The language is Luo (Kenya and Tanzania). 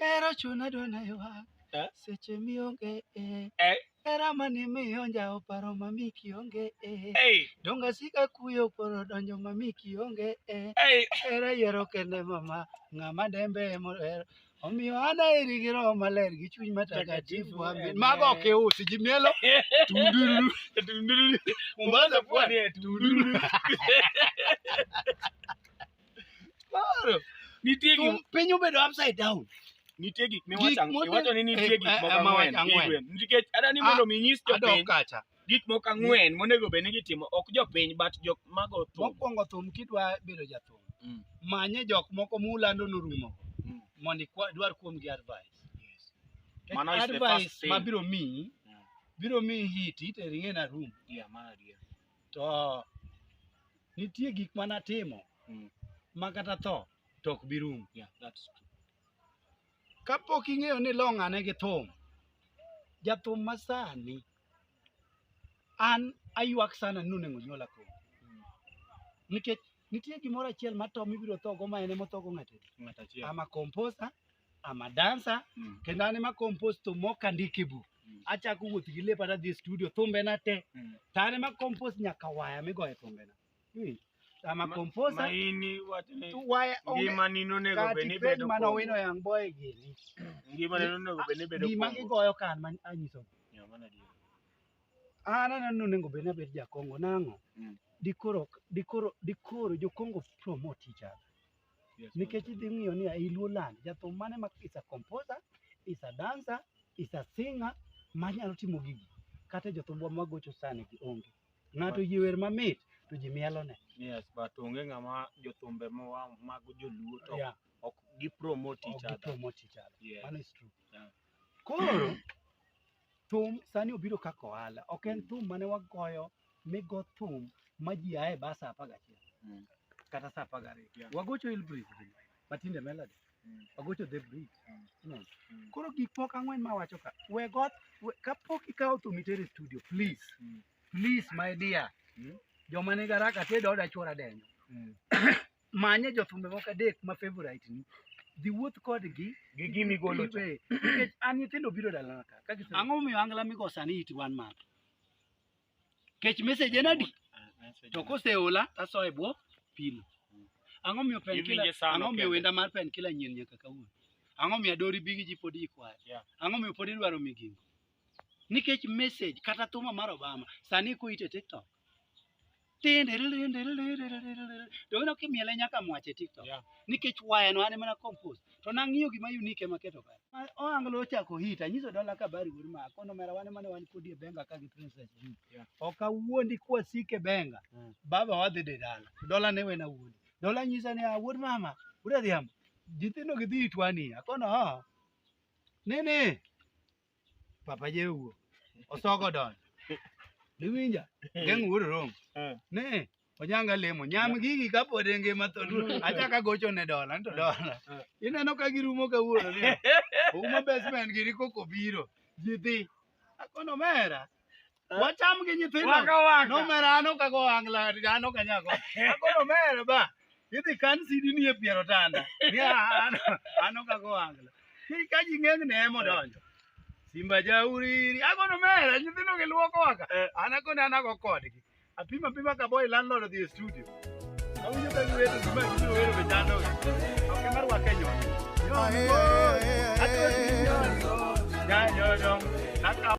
Ero chuna dona ywak Eh? seche mionge eh. Eh? Era mani miyo njawo paro mami kionge eh. Hey, Donga sika kuyo poro donjo mami kionge eh. hey. Era yiero kende mama ng'ama dembe emohero omiyo ana eri gi roho maler gi chuny matakatifu amen. Mago ok iusi ji mielo tundururu Mombasa pwani. Tundururu. Koro, nitie gik Thum- piny obedo upside down nitie gik Gik miwacho mote- iwacho ni nitie eh, gik eh, moko eh, ma ang'wen wacho ang'wen. Igwe. nikech ada ni Ah, mondo mi nyis adok jopiny kacha gik moko ang'wen monego bed ni gitimo ok jopiny but jok mago thum mokwongo thum kidwa bedo jathum Mm. manye jok moko mulando norumo Mm. mondo ikwa- idwar kuomgi advice Mano is the first advice thing. ma biro miyi Mm. biro miyi hit iterine na room Yeah, mano adier. To nitie gik ma natimo Mm. ma kata tho to ok bi rum. Yeah, that's true. Kapok ing'eyo ni long' ane gi thum, jathum ma sani an aywak sana ni onego nyuola koro. Mm. Nikech nitie gimoro achiel ma to mibiro thogo ma en emothogo ng'ato. Ng'at achiel. I'm a composer, I'm a dancer Mm. kendo an ema compose to mok andik e buk. Mm. Achako wuoth gi lepa tadhi e studio thumbena te. Mm. To an ema compose nyaka waya migoye thumbena. Iwinjo? I'm a composer. Maini wacho ni To waya onge ngimani nonego kati bed ni penj bedo mane owino young boy gini. ngimani nonego bed ni bedo Gima Kongo. gigoyo kan man anyiso. Yeah, mano adier. An aneno ni onego bed ni abed jakongo nang'o? Mm. Dikoro dikoro dikoro jokongo promote each other. nikech idhi ng'iyo ni ei Luo land jathum mane ma is a composer, is a dancer, is a singer manyalo timo gigi. Kata e jothumbwa magocho sani gi onge. Ng'ato oyie wer mamit to ji mielone. Yes, but onge ng'ama jothumbe ma mag joluo to Yeah, ok gi promote ok each other. gipromote each other. Yes. Mano is true. Yeah. Koro Thum sani obiro kaka ohala, ok en thum mane wagoyo migo thum ma ji aye ba sa apar gachiel Mm. kata sa apar gariyo. Yeah. Wagocho Hill Breeze gi Matinde Melody, Mm. wagocho The Breeze. Mm. Unaona? Mm. Koro gik moko ang'wen ma wacho ka, we got, we, kapok ikawo thum itere studio, please, Mm. please my dear, Mm. joma nigi haraka tedo oda chwora denyo. Mm. manye jothumbe moko adek ma favorite ni dhi wuoth kodgi gi gimi golo cha. Eh, nikech an nyithindo biro dalana ka ka gise- ang'o momiyo angla migo sani iti wan man kech message en adi to koseola taso e bwo pilo ang'o miyo pen Iwinje kila sano ang'o miyo kende. wenda mar pen kila nyien nyaka kawuono ang'o miyo adori bigi ji pod ikwayo Yeah. ang'o miyo pod idwaro migingo nikech message kata thuma mar obama sani ko ite tiktok Dono kimiele nyaka mwache TikTok. Yeah. Nikech waya no ane mana compose. To nang'iyo gima unique ema keto kare. Ma- Oanglo ochako hit, anyiso dola kabari wuod ma kono mera wane mane wan kodi e benga ka gi princess juu. Yeah. Ok awuondi kwasik e benga. Mm. Baba wadhi de dala. Dola ne wena wuondi. Dola nyisa ni "Ah, wuod mama, wuod adhiambo. Jithindo gi dhi itwani. Akono ha. Nene. papa jewuo osoko don diwinja geng wuod rom Eh. ne onyanga lemo nyam gigi kapod e ngima to achaka gocho ne dola nto dola Eh. ineno ka girumo kawuono ni uma basement gini koko biro ji dhi akono mera Wacham gi nyithindo. Waka waka. Nomera an ok ago angla, an ok anyal go. Akoro mere ba. Idhi kan sidi ni e piero tanda. Ni an an ok ago angla. Ki ka ji ng'eng ne emo donjo. Simba jauriri. Agono mere nyithindo gi luoko waka. An akone an ago kodgi. Apima apima ka boy landlord odhi e studio. Awinjo ka giwero gima gibiro wero be chando. Ok mar waka nyono. Nyono. Ato nyono. Nyono. Nyono.